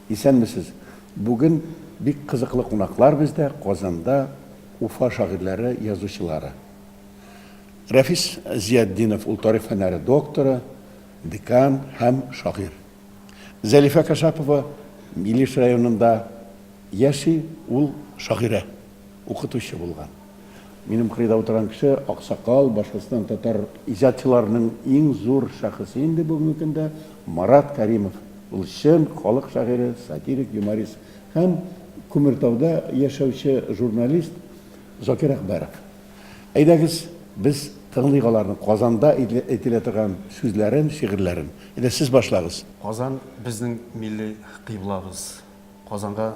Исәнмесез. Бүген бик кызыклы кунаклар бездә Казанда Уфа шагыйрьләре, язучылары. Рәфис Зиятдинов ул тарих фәннәре докторы, декан һәм шагыйрь. Зәлифә Кашапова Илеш районында яши, ул шагыйрә, укытучы булган. Минем кырыйда утырган кеше, аксакал, Башкортстан татар иҗатчыларының иң зур шәхесе инде бүгенге көндә, Марат Кәримов. Ул чын халык шагыйре, сатирик, юморист һәм Күмертауда яшәүче журналист Закир Әкбәров. Әйдәгез, без тыңлыйк аларның Казанда әйтелә торган сүзләрен, шигырьләрен. Әйдә, сез башлагыз. Казан, безнең милли кыйблабыз. Казанга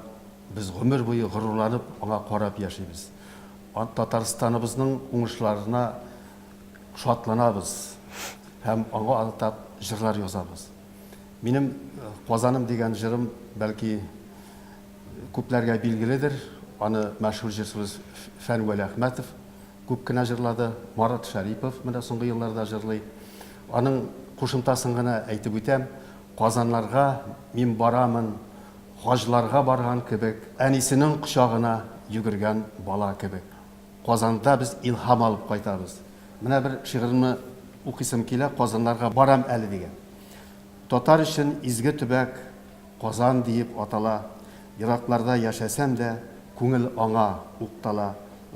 без гомер буе горурланып, аңа карап яшибез. Татарстаныбызның уңышларына шатланабыз һәм аңа атап җырлар язабыз. Минем Казаным дигән җырым, бәлки, Күпләргә билгеледер, аны мәшһүр җырчыбыз Фән Вәлиәхмәтов күп кенә җырлады, Марат Шәрипов менә соңгы елларда җырлый. Аның кушымтасын гына әйтеп үтәм, Казаннарга мин барамын, хаҗларга барган кебек, әнисенең кочагына йөгергән бала кебек. Казанда без илһам алып кайтабыз. Менә бер шигыремне укыйсым килә, Казаннарга барам әле дигән. Татар өчен изге төбәк Казан диеп атала, Еракларда яшәсәм дә, күңел аңа уктала.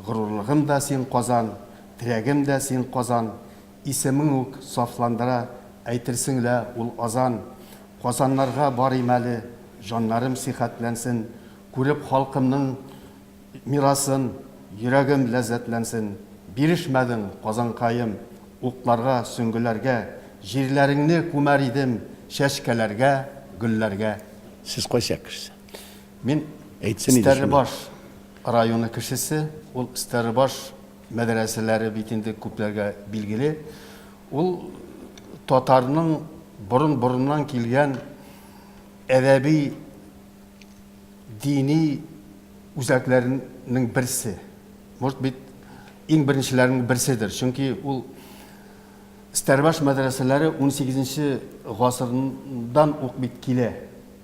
Горурлыгым да син Казан, терәгем дә син Казан, Исемең үк сафландыра, әйтерсең лә ул азан. Казаннарга барыйм әле, җаннарым сихәтләнсен, Күреп халкымның Мирасын, йөрәгем ләззәтләнсен, Бирешмәдең, Казанкаем, утларга, сөңгеләргә, Җирләреңне күмәр идем чәчкәләргә, гөлләргә. Сез кайсы як кешесе? Мин Стәрлебаш районы кешесе. Ул Стәрлебаш мәдрәсәләре бит инде күпләргә билгеле. Ул татарның борын-борыннан килгән әдәби дини үзәкләренең берсе, может быть, иң беренчеләрнең берседер, чөнки ул Стәрбаш мәдрәсәләре 18 нче гасырдан ук бит килә.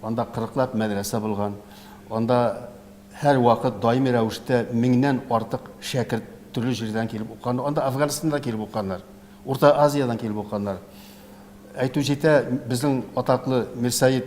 Анда кырыклап мәдрәсә булган, анда һәрвакыт даими рәвештә меңнән артык шәкерт төрле җирдән килеп укыган, анда Афганстаннан да килеп укыганнар, Урта Азиядән килеп укыганнар. Әйтү җитә, безнең атаклы Мирсәет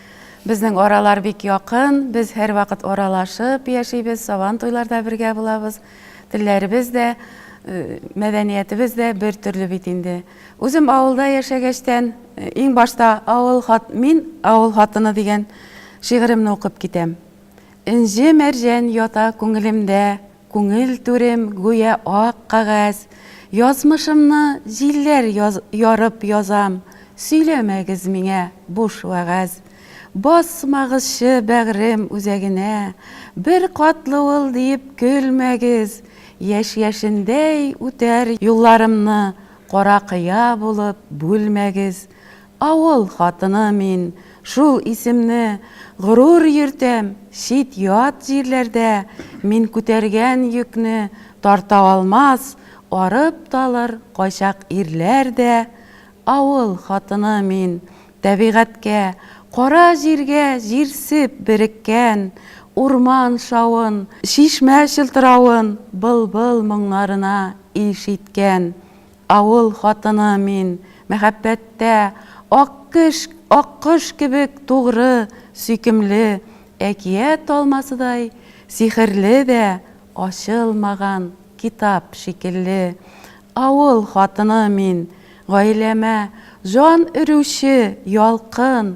Безнең аралар бик якын, без һәрвакыт аралашып яшибез, сабан туйларда бергә булабыз. Телләребез дә, мәдәниятебез дә бер төрле бит инде. Үзем авылда яшәгәчтән, иң башта авыл хат, мин авыл хатыны дигән шигыремне укып китәм. Энҗе мәрҗән ята күңелемдә, Күңел түрем гүя ак кагәз, Язмышымны җилләр ярып язам, Сөйләмәгез миңа буш вәгазь. Басмагызчы бәгърем үзәгенә, Бер катлы ул диеп көлмәгез. Яшь яшендәй үтәр юлларымны, Кара кыя булып бүлмәгез. Авыл хатыны мин, шул исемне горур йөртәм, чит-ят җирләрдә мин күтәргән йөкне тарта алмас, арып-талыр кайчак ирләр дә, авыл хатыны мин, тәбигатькә, кара җиргә җирсеп береккән, урман шавын, чишмә чылтыравын, былбыл моңнарына ишеткән, Авыл хатыны мин, мәхәббәттә, Аккөш, аккош кебек тугры, сөйкемле, Әкият алмасыдай сихерле дә, Ачылмаган китап шикелле. Авыл хатыны мин, гаиләмә Җан өрүче ялкын,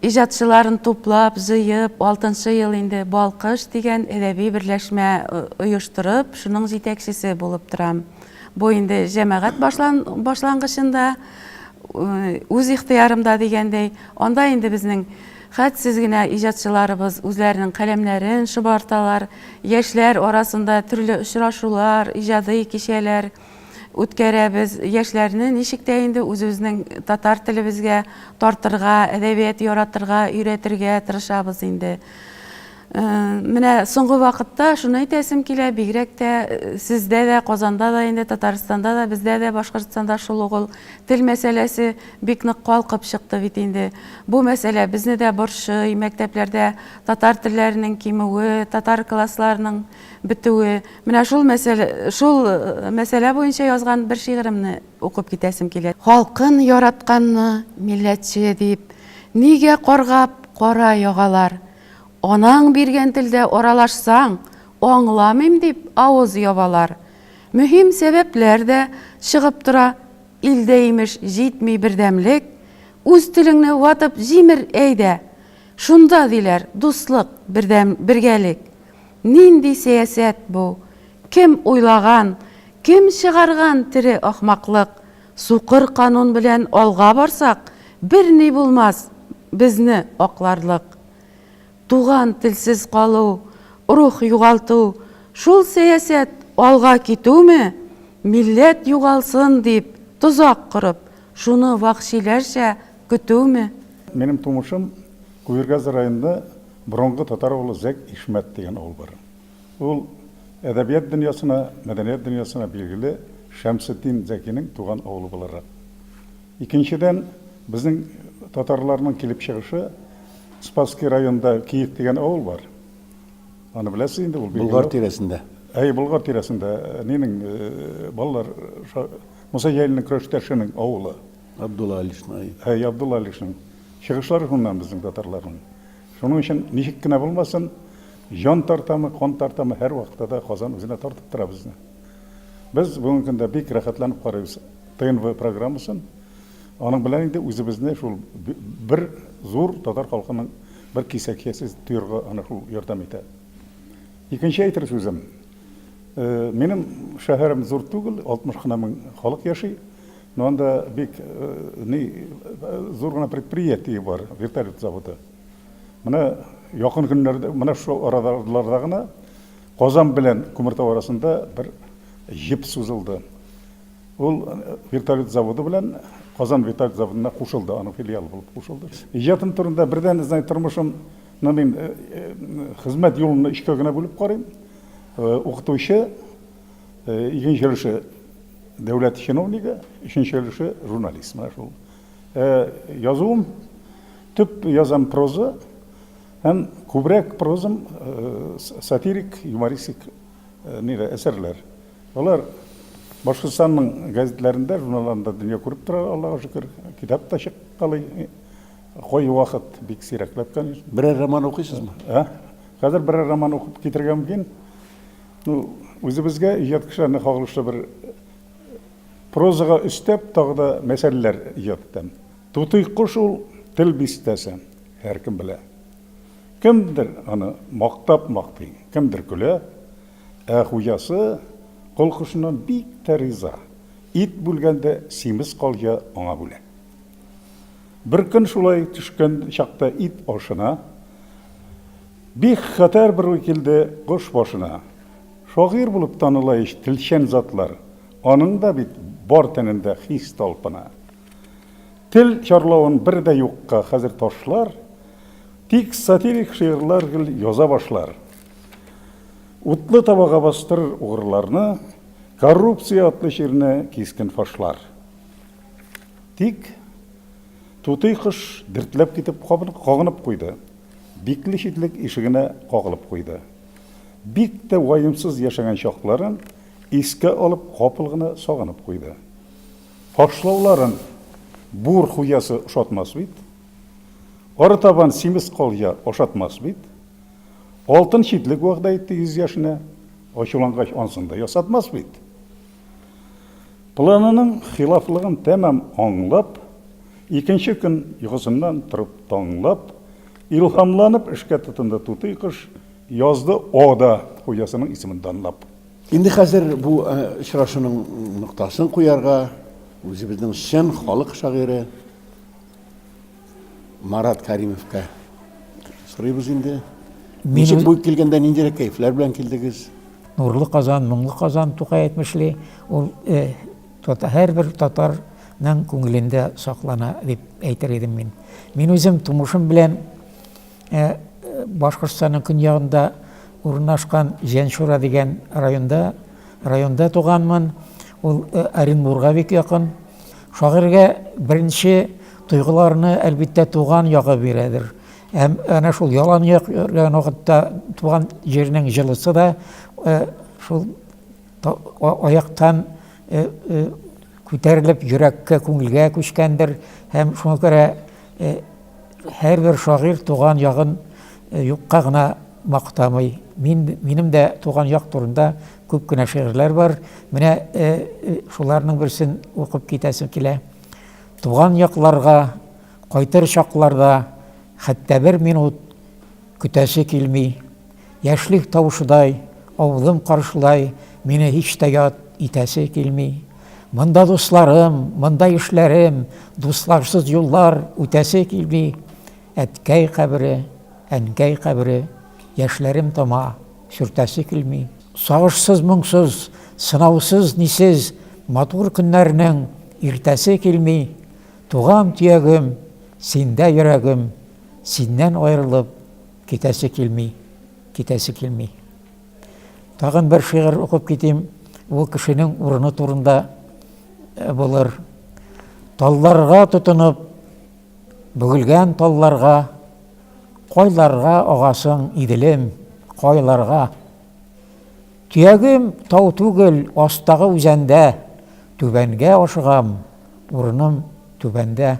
Иҗатчыларын туплап, җыеп, алтынчы ел инде Балкыш дигән әдәби берләшмә оештырып, шуның җитәкчесе булып торам. Бу инде җәмәгать башлангычында, үз ихтыярымда дигәндәй. Анда инде безнең хәтсез генә иҗатчыларыбыз үзләренең каләмнәрен шобарталар, яшьләр арасында төрле очрашулар, иҗади кичәләр, үткәрәбез. Яшьләрне ничек тә инде үзебезнең татар телебезгә тартырга, әдәбият яратырга, өйрәтергә тырышабыз инде. Э, менә соңгы вакытта шуны әйтәсем килә, бигрәк тә э, сездә дә, Казанда да инде, Татарстанда да, бездә дә, Башкортстанда шул угыл тел мәсьәләсе бик нык калкып чыкты бит инде. Бу мәсьәлә безне дә борчый, мәктәпләрдә татар телләренең кимүе, татар классларының бетүе, менә шул мәсьәлә, шул мәсьәлә буенча язган бер шигыремне укып китәсем килә. Халкын яратканны милләтче дип нигә каргап кара ягалар? Анаң биргән телдә аралашсаң, аңламыйм дип авыз ябалар. Мөһим сәбәпләр дә чыгып тора, илдә имеш җитми бердәмлек, үз телеңне ватып җимер әйдә, шунда диләр дуслык, бердәм, бергәлек. Нинди сәясәт бу? Кем уйлаган, кем чыгарган тере ахмаклык? Сукыр канун белән алга барсак, берни булмас, безне акларлык. Туган телсез калу, рух югалту, шул сәясәт алга китүме? Милләт югалсын дип, тозак корып, шуны вәхшиләрчә көтүме? Минем тумышым Куергаз районында. Борынгы татар авылы Зәк Ишмәт дигән авыл бар. Ул әдәбият дөньясына, мәдәният дөньясына билгеле Шәмсетдин Зәкинең туган авылы буларак. Икенчедән, безнең татарларның килеп чыгышы Спасский районында Киев дигән авыл бар. Аны беләсез инде, ул билгеле. Болгар тирәсендә. Әйе, Болгар тирәсендә. Нинең, балалар, Муса Җәлилнең көрәштәшенең авылы. Абдулла Алишны, әй, Абдулла Алишның чыгышлары шуннан безнең татарларның. Шуның өчен ничек кенә булмасын, җан тартамы, кан тартамы, һәрвакытта да Казан үзенә тартып тора безне. Без бүгенге көндә бик рәхәтләнеп карыйбыз ТНВ программасын. Аның белән инде үзебезне шул бер зур татар халкының бер кисәкчәсе тоярга аны шул ярдәм итә. Икенче әйтер сүзем, минем шәһәрем зур түгел, 60 кына мең халык яши. Ну анда бик ни зур гына предприятие бар, вертолет заводы. Менә якын көннәрдә, менә шул араларда гына Казан белән Күмертау арасында бер җеп сузылды. Ул вертолет заводы белән Казан вертолет заводына кушылды, аның филиалы булып кушылды. Иҗатым турында бердән, знай, тормышым, ну мин хезмәт юлымны өчкә генә бүлеп карыйм. Укытучы, Икенче өлеше дәүләт чиновнигы, өченче өлеше журналист. Менә шул. Язуым төп язам проза һәм күбрәк прозам сатирик, юмористик нигә әсәрләр. Алар Башкортстанның газетләрендә, журналларында дөнья күреп тора, Аллага шөкер. Китап та чыккалый. Кай вакыт бик сирәкләп, конечно. Берәр роман укыйсызмы? Хәзер берәр роман укып китергә мөмкин. Ну, үзебезгә иҗат кешеләренә кагылышлы бер прозага өстәп тагы да мәсьәләләр иҗат итәм. Тутый кош ул тел бистәсе, һәркем белә. Кемдер аны мактап мактый, кемдер көлә, ә хуҗасы кол кошыннан бик тә риза. Ит бүлгәндә симез калҗа аңа бүләк. Бер көн шулай төшкән чакта ит ашына. Бик хәтәр бер уй килде кош башына. Шагыйрь булып таныла ич телчән затлар, аның да бит бар тәнендә хис талпына. Тел чарлавын бер дә юкка хәзер ташлар, тик сатирик шигырьләр гел яза башлар. Утлы табага бастырыр угрыларны, коррупция атлы чирне кискен фашлар. Тик тутый кош дертләп китеп кабынып, кагынып куйды. Бикле читлек ишегенә кагылып куйды. Бик тә ваемсыз яшәгән чакларын искә алып, капыл гына сагынып куйды. Ташлауларын бур хуҗасы ошатмас бит. Арытабан симез калҗа ашатмас бит. Алтын читлек вәгъдә итте йөз яшенә, ачулангач ансын да ясатмас бит. Планының хилафлыгын тәмам аңлап, икенче көн йокысыннан торып таңлап, илһамланып эшкә тотынды Тутый кош, язды Ода хуҗасының исемен данлап. Инде хәзер бу очрашуның ноктасын куярга, үзебезнең чын халык шагыйре, Марат Каримовка сорыйбыз инде. Ничек бу килгәндә ниндирәк кәефләр белән килдегез? Нурлы Казан, моңлы Казан Тукай әйтмешли, ул э, тота, һәрбер татарның күңелендә саклана дип әйтер идем мин. Мин үзем тумышым белән Ә Башкортстанның көньягында урнашкан Җәншура дигән районда, районда туганмын. Ул Оренбурга бик якын. Шагыйрьгә беренче тойгыларны, әлбиттә, туган ягы бирәдер. Һәм әнә шул ялан як йөргән вакытта туган җирнең җылысы да шул аяктан күтәрелеп, йөрәккә, күңелгә күчкәндер һәм шуңа күрә һәрбер шагыйрь туган ягын юкка гына мактамый. Мин, минем дә туган як турында күп кенә шигырьләр бар. Менә шуларның берсен укып китәсем килә. Туган якларга кайтыр чакларда хәтта бер минут Көтәсе килми. Яшьлек тавышыдай, авылым каршылай, мине һич тә ят итәсе килми. Монда дусларым, монда ишләрем, дусларсыз юллар үтәсе килми. Әткәй кабере, әнкәй кабере, яшьләрем тама, сөртәсе килми. Сагышсыз, моңсыз, сынаусыз, нисез, матур көннәрнең иртәсе килми. Туган төягем, синдә йөрәгем. Синнән аерылып китәсе килми, китәсе килми. Тагын бер шигырь укып китим. Ул кешенең урыны турында э, булыр. Талларга тотынып, бүгелгән талларга, кайларга агасың, иделем, кайларга. Төягем тау түгел, астагы үзәндә, түбәнгә ашыгам, урыным түбәндә.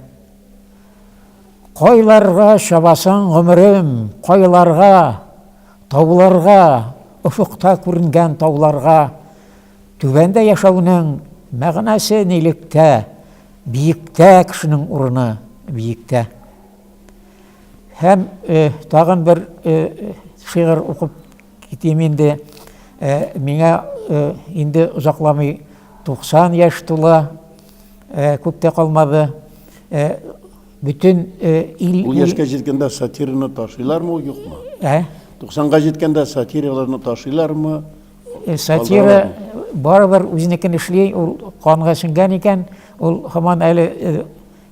Кайларга чабасың, гомерем, кайларга? Тауларга, офыкта күренгән тауларга. Түбәндә яшәүнең мәгънәсе нилектә? Биектә кешенең урыны, биектә. Һәм э, тагын бер э, шигырь укып китим инде. Э, миңа инде озакламый 90 яшь тула. Э, күп тә калмады. Э, бөтен э, ил... Ул яшкә җиткәндә сатираны ташыйлармы, ул юкмы? Ә? 90-га җиткәндә сатираларны ташыйлармы? Сатира барыбер үзенекен эшли, ул канга сеңгән икән, ул һаман әле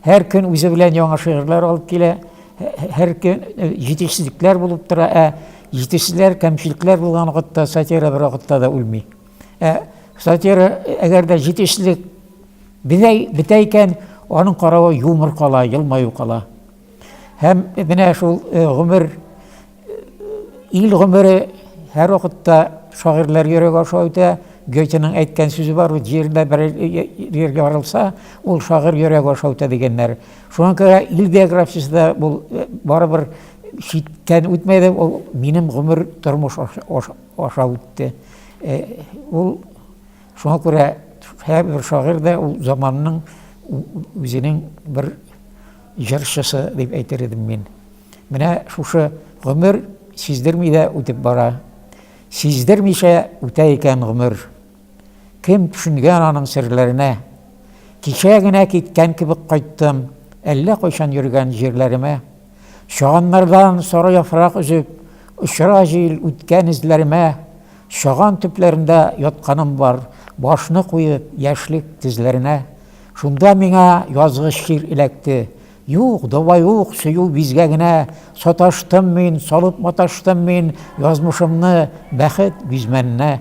һәр көн үзе белән яңа шигырьләр алып килә, һәр көн җитешсезлекләр булып тора, ә җитешсезләр, кәмчелекләр булган вакытта сатира бер вакытта да үлми. Ә сатира, әгәр дә җитешлек бинәй бетә икән, аның каравы юмор кала, елмаю кала. Һәм менә шул э, гомер, э, ил гомере һәр вакытта шагыйрьләр йөрәге аша үтә. Гетеның әйткән сүзе бар, ул җирдә бер җиргә арылса, ул шагыйрь йөрәге аша үтә дигәннәр. Шуңа күрә ил биографиясе дә бу э, барыбер читтән үтмәде, ул минем гомер тормыш аша үтте. Э, ул шуңа күрә һәрбер шагыйрь дә ул заманның үзенең бер җырчысы дип әйтер идем мин. Менә шушы гомер сиздерми дә үтеп бара. Сиздермичә үтә икән гомер. Кем төшенгән аның серләренә? Кичә генә киткән кебек кайттым, Әллә кайчан йөргән җирләремә. Чаганнардан сары яфрак өзеп, Очыра җил үткән эзләремә. Чаган төпләрендә ятканым бар, Башны куеп, яшьлек тезләренә. Шунда миңа язгы чир эләкте, Юк, давай ук, сөю бизгәгенә. Саташтым мин, салып маташтым мин Язмышымны бәхет бизмәненә.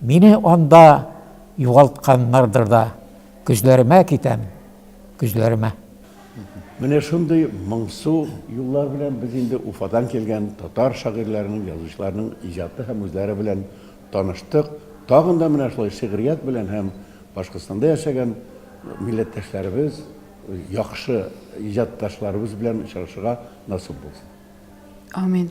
Мине анда югалтканнардыр да, Көзләремә китәм, көзләремә. Менә шундый моңсу юллар белән без инде Уфадан килгән татар шагыйрьләренең, язучыларның иҗаты һәм үзләре белән таныштык. Тагын да менә шулай шигърият белән һәм Башкортстанда яшәгән милләттәшләребез, яхшы иҗатташларыбыз белән очрашырга насыйп булсын. Амин.